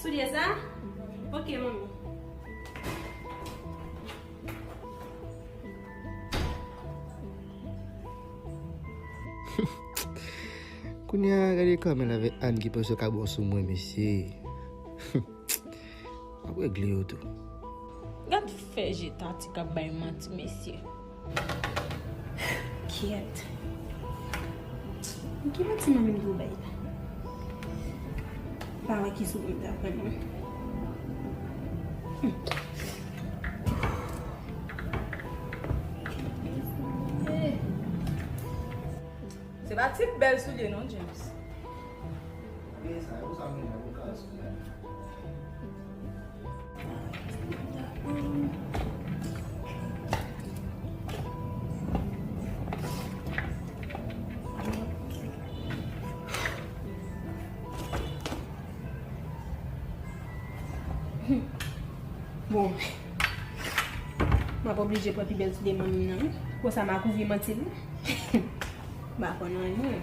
Soulye sa? Ok manmi. Kounya gade Carmel avèk Anne ki pran sokabon sou mwen mesye. Mwen regle yo tou. Gad fè je Tati kap bay manti mesye. Kyèt. Ki batiman menm ki ou bay la? Pa wè ki sou mwen ta pran non. Se pa ti bèl soulye non James. Bon, mwen pa oblije pran pi bèl ti deman mwen nan. Konsa mwen akouvri manti mwen. Mwen pa konnen anyen.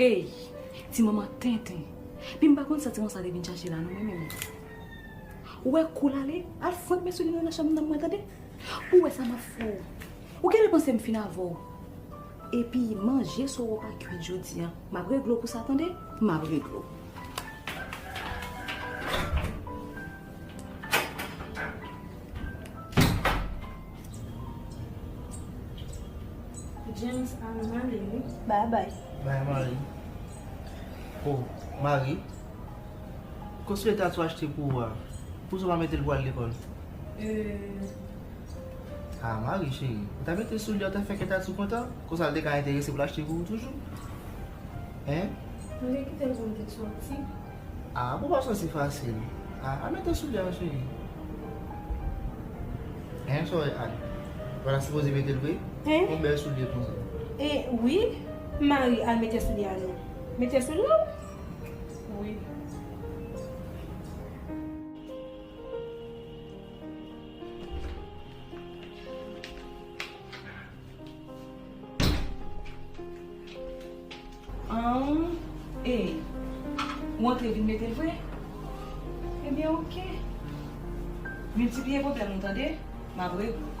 Eyy! Ti manman tenten! Pi m pa konn sa ti manman sa te vin chache la non mwen menm. Ou wè kou l ale? Al fouet men souli nou nan chanm nan mwen tande! Ou wè sa m ap fè w? Ou genlè panse m fin avè w? Epi manje sa w wè w pa kuit jodi an, m ap regle w pou sa tande! M ap regle w. James a nan ale wi. Ba bay. Bay Marie. Oh, Marie. Kosme ta sou achte pou ou a, pou sa w pa mete l pou al lekòl? Euh. Ah, Marie cheri, ou ta mete sou li a, ou ta fè kè Tatou kontan, kon sa l te ka enterese pou l achte pou ou toujou. Hein? Nou te kite l pou nou te soti. Ah pou pa soti fasil. Ah al mete soulye a cheri. Hein sorry Anne. Ou pa ta sipoze metel vre? Hein? Yon bel soulye konsa. Eh oui Marie al mete soulye a non. Mete sou nou? Oui. Ahh ee Ou antre vin mete l vre? Ebyen ok Miltipliye pwoblèm ou tande M ap regle w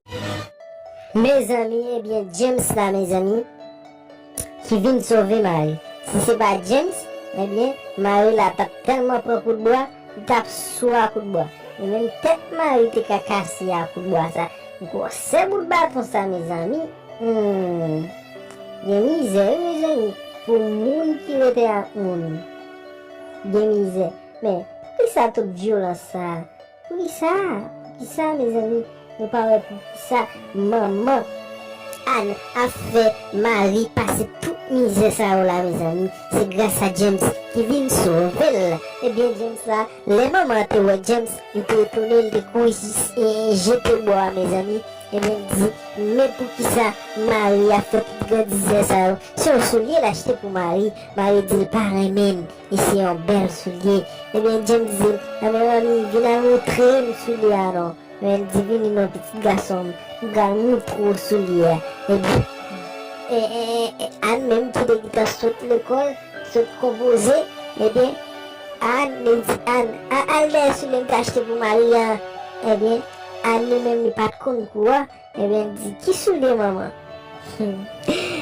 Mezanmi ebyen James la mezanmi ki vin sove Mari si se pa James ebyen Mari la tap tèlman pran kout bwa li tap sou a kout bwa e menm tèt Mari te ka kase a kout bwa sa gwòsè bout baton sa mezanmi humm gen mizè wi mezanmi pou moun ki rete ak moun gen mizè men poukisa tout vyolans sa. Poukisa poukisa mezanmi nou pa wè poukisa manman Anne ap fè Marie pase tout mizè sa yo la mezanmi se gras a James ki vin sovel ebyen James la lè manman an te wè James li te etone li te kouri jis jete bò a mezanmi ebyen li di men poukisa Marie ap fè tout grandizè sa yo se yon solye l achte pou Marie Marie di l pa renmen E se yon bèl soulye. Ebyen, James di, Lanmè m an mi, vin al montre m soulye a non. Ebyen, l di, Vini non, pitit gason m, m pral montre w soulye a. Ebyen, Ann menm ki te gentan sot lekòl, sot konpoze, ebyen, Ann, li di Ann, Al dèyè soulye m te achte pou Maria an. Ebyen, Ann li menm li pa t konn kou a. Ebyen di ki soude manman. Humm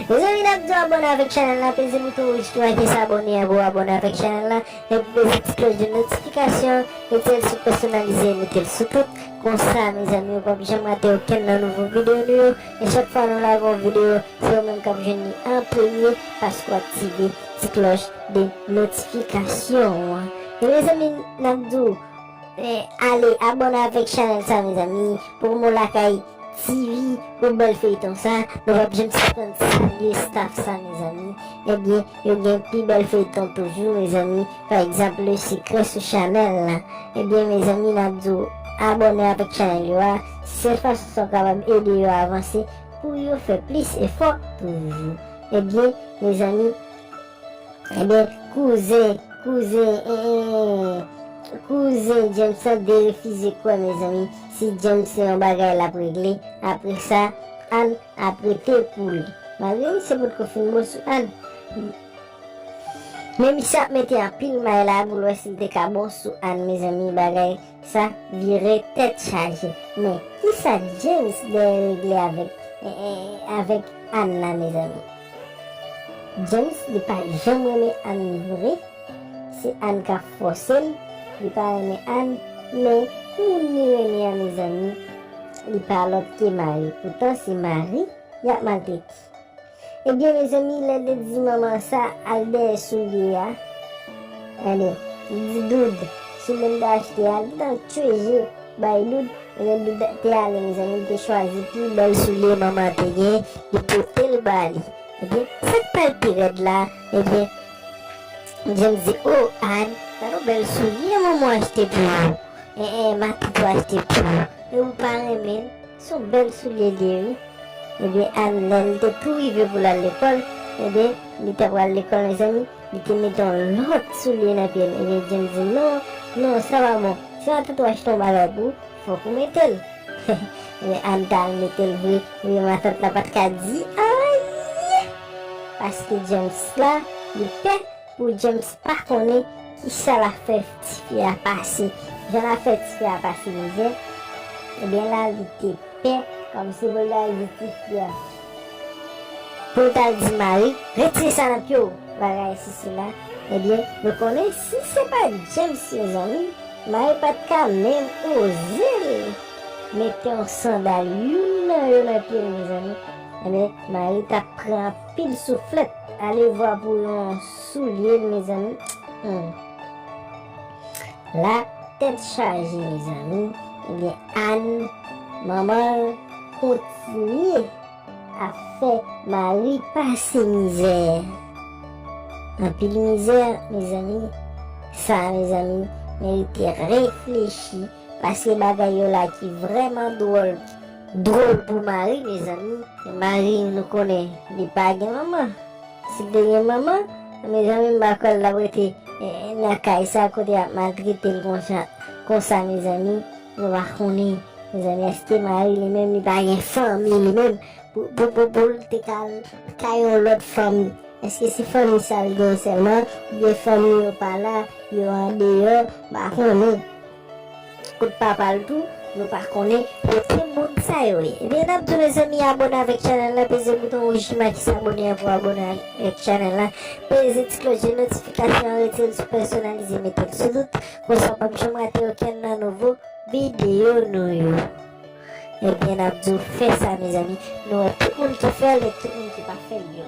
mezanmi nap di w abone avek chanel la peze bouton rouj ki make s'abonner an pou w abone avek chanel la epi peze ti kloch de notification metel sou personalize metel sou tout konsa mezanmi ou pap janm rate okenn nan nouvo video nou yo e chak fwa nou lage yon video se ou menm kap jwenn li an premye paske w aktive ti kloch de notification an e mezanmi nap di w Men ale abone avek chanel sa mezanmi pou mou lakay TV pou bel feyton sa nou pap janm sispann salye staff sa mezanmi ebyen yo gen pi bel feyton toujou mezanmi pa egzanp le secret sou chanel la ebyen mezanmi nap di w abone avek chanel yo a sel fason sa w kapab ede yo avanse pou yo fè plis efò toujou ebyen mezanmi Ebyen kouzen kouzen eeh kouzen James lan derefize kwè mezanmi si James se yon bagay lap regle apresa Anne ap rete pou li malgre misye potko fin bon sou Anne men misye ap mete anpil may la poul wè sil te ka bon sou Anne mezanmi bagay Sa vire tèt chaje. Men kisa James dèyè regle avèk avèk Anne la mezanmi. James li pa janm renmen Anne vre se Anne kap fòsel li pa renmen Anne men moun li renmen an mezanmi li pa lòt ke Marie poutan se Marie yap maltrete. Ebyen mezanmi lèl te di manman sa al dèyè soulye a gade li di dood soulye m te achte a li gentan tchwe je bay dood ebyen dood te ale mezanmi li te chwazi pi bèl soulye manman an te gen li potel ba li ebyen sak pral pi rèd la ebyen James di oo Anne gade yon bèl soulye manman achte pou ou ee matant ou achte pou ou e ou pa renmen l. Son bèl soulye li ye wi. Ebyen Ann lèl te tou rive poul al lekòl ebyen li ta pral lekòl mezanmi li te mete yon lòt soulye nan pyel ebyen James di non non sa pa bon se pa tout ou achte yon bagay pou fòk ou metel ebyen Ann ta al metel vre ebyen matant la pat ka di anyen paske James la li pè Pou James pa konnen kisa lap fè ti fi a pase jan lap fè ti fi a pase mizè ebyen la li te pè kòmsi pou l ta al di ti fi a pou l tal di Mari retire sa nan pye w bagay sesi la ebyen nou konnen si se pat James mezanmi Mari pat ka menm oze l mete yon sandal youn nan yo nan pye l mezanmi ebyen Mari tap pran Pil souflèt alevwa pou yon soulye l mezanmi humm la tèt chaje mezanmi ebyen Anne manman l kontinye ap fè Marie pase mizè anpil mizè mezanmi sa mezanmi merite reflechi. Paske bagay yo la ki vreman drol drol pou mari mezanmi. Mari nou konnen li pa gen manman sil te gen manman mezanmi m pa kwèl tap rete nan kay sa kote yap maltretel konsa konsa mezanmi nou pa konnen mezanmi eske mari li menm li pa gen fanmi li menm pou poul te ka al kay yon lòt fanm eske se fanmi sal gen sèlman oubyen fanmi yo pala yo andeyò m pa konnen. Kot papal tou nou pa konnen. Bon se moun sa yo ye. Ebyen nap diw mezanmi abone avek chanel la peze bouton wouj ki make sabone an pou abone avek chanel la peze ti klòch de notifikasyon an retirel sou pèsonalize metel sou tout konsa ou pap janm rate okenn nan nouvo video nou yo ebyen nap diw fè sa mezanmi nou wè tout moun ki fèl et tout moun ki pa fèl yo.